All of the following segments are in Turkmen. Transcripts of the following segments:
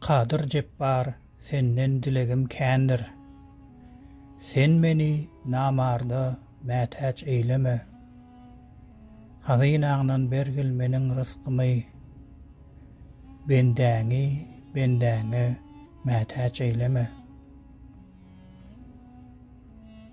Kadyr Jepbar senden dilegim kändir. Sen meni namarda mätäç eýleme. Hazynaňdan bergil meniň rysgymy. Bendäňi bendäňe mätäç eýleme.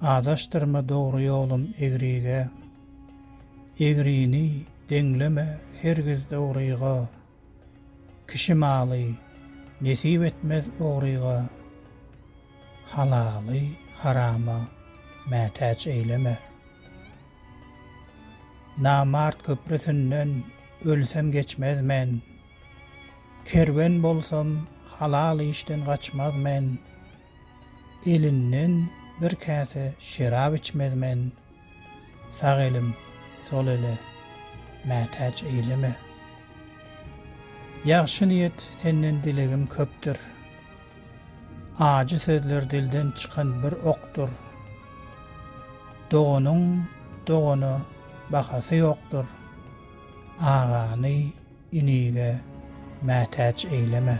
Azaşdyrma dogry ýolum egrige. Egrini deňleme hergiz dogryga. Kişi maly nesip etmez ogryga, halaly harama mätäç eýleme. Namart köprüsinden ölsem geçmez men, kerwen bolsam halal işden gaçmaz men. Elinden bir käse şerap içmez men, Sag elim, sol ele mätäç eýleme. Ýagşy niýet senden dilegim köpdür, Ajy sözler dilden çykan bir okdur. Doganyň dogana bahasy ýokdur, Agany Inige mätäç eýleme.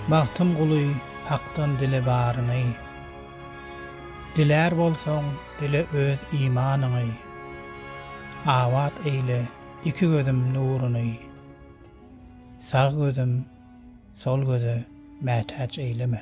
Bagtym guly Hakdan dile baryny. Dilär bolsaň, dile öz imanyňy. Abat eýle iki gözüm nuruny. Sag gözüm sol göze mätäç eýleme.